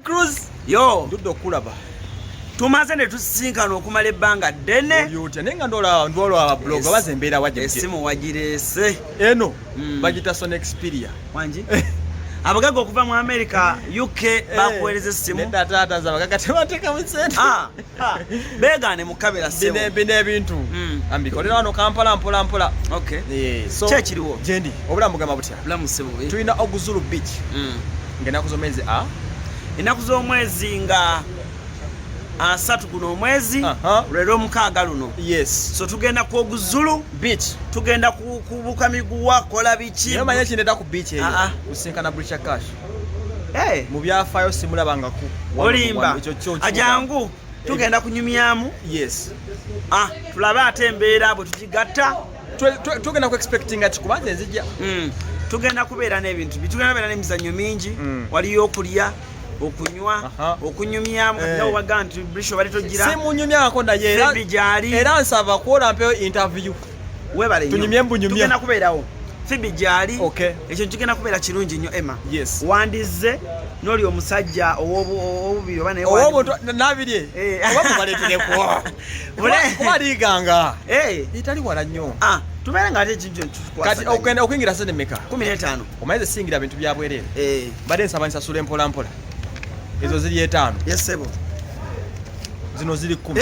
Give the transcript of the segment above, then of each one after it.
Cruz yo ndudde okukulaba tumaze ne tusisinkana okumala ebbanga ddene olyotya naye nga ndola ndola blog baze embeera waje esimu wajireese eno mm. bagita son experia wangi abagaga okuva mu america uk eh, bakuweereza essimu nedda taata za bagaga tebateekamu sente ah. beegaane mukabira bino ebintu hmm. ambikolera wano kampala mpola mpola eh, kyekiriwo gyendi obulamu bugamba butya tulina oguzulu beach hmm. ngaenaku zomwezi a enaku z'omwezi nga asatu guno omwezi lwera omukaaga luno yes so tugenda ku oguzulu beach tugenda kubuka miguwa kola biki manya kineta ku beach eyo ah, ah. usinkana bricha cash mu byafaayo simulabangako olimba ajangu tugenda kunyumyamu yes ah tulabe ate embeera bwe tukigatta tugenda ku expectinga kikubanza enzija hmm. tugenda kubeera n'ebintu bitugenda kubeera n'emizannyo mingi hmm. waliyo okulya okunywa okunyumyamu eh. nawe waga nti brisho bali togira simunyumyako naye era nsaba kuwola mpeyo interview webale tunyumye mbunyumye tugenda kubeerawo fibi gyali okay. ekyo kigenda kubeera kirungi nnyo emma yes. wandizze noli omusajja owobubiri oba nayenabiri eh. oba mubaleterekwo kuba liganga eh. etali wala nnyo ah, tubeere nga ate ekintu okuyingira sente meka kumi n'etaano omayize singira bintu byabwerere eh. mbadde nsaba nsasula empolampola ezo ziri etaano yesebo zino ziri kumi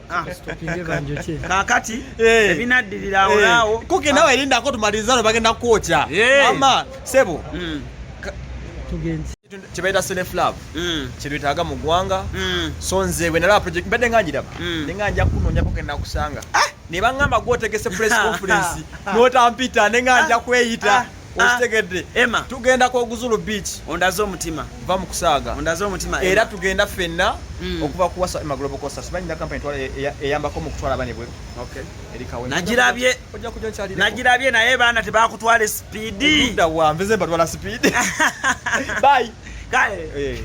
Ah. kakati eh. ebinaddirira awo eh. naawo kuki nawe ah. erindako tumaliriza no bagenda kwokya eh. ama sebo hmm. kyebayita self love hmm. kyetwetaaga mu ggwanga hmm. so nze wenalaba project mbadde nga njiraba ne nga nja kunoonyako kenda kusanga ah! ne baŋŋamba gwotegese press conference n'otampita ne nga nja kweyita okitegedde ah, tugenda ku oguzulu beach ondaze omutima va mu kusaaga ondaze omutima era tugenda fenna mm. okuva ku wasa ema global costa sibanyi na company twala e- e- eyambako mu kutwala bane bwe okay erikawe najirabye ojja kujja nkyali najirabye naye bana tebakutwale speed nda wa mbeze batwala speed bye kale eh.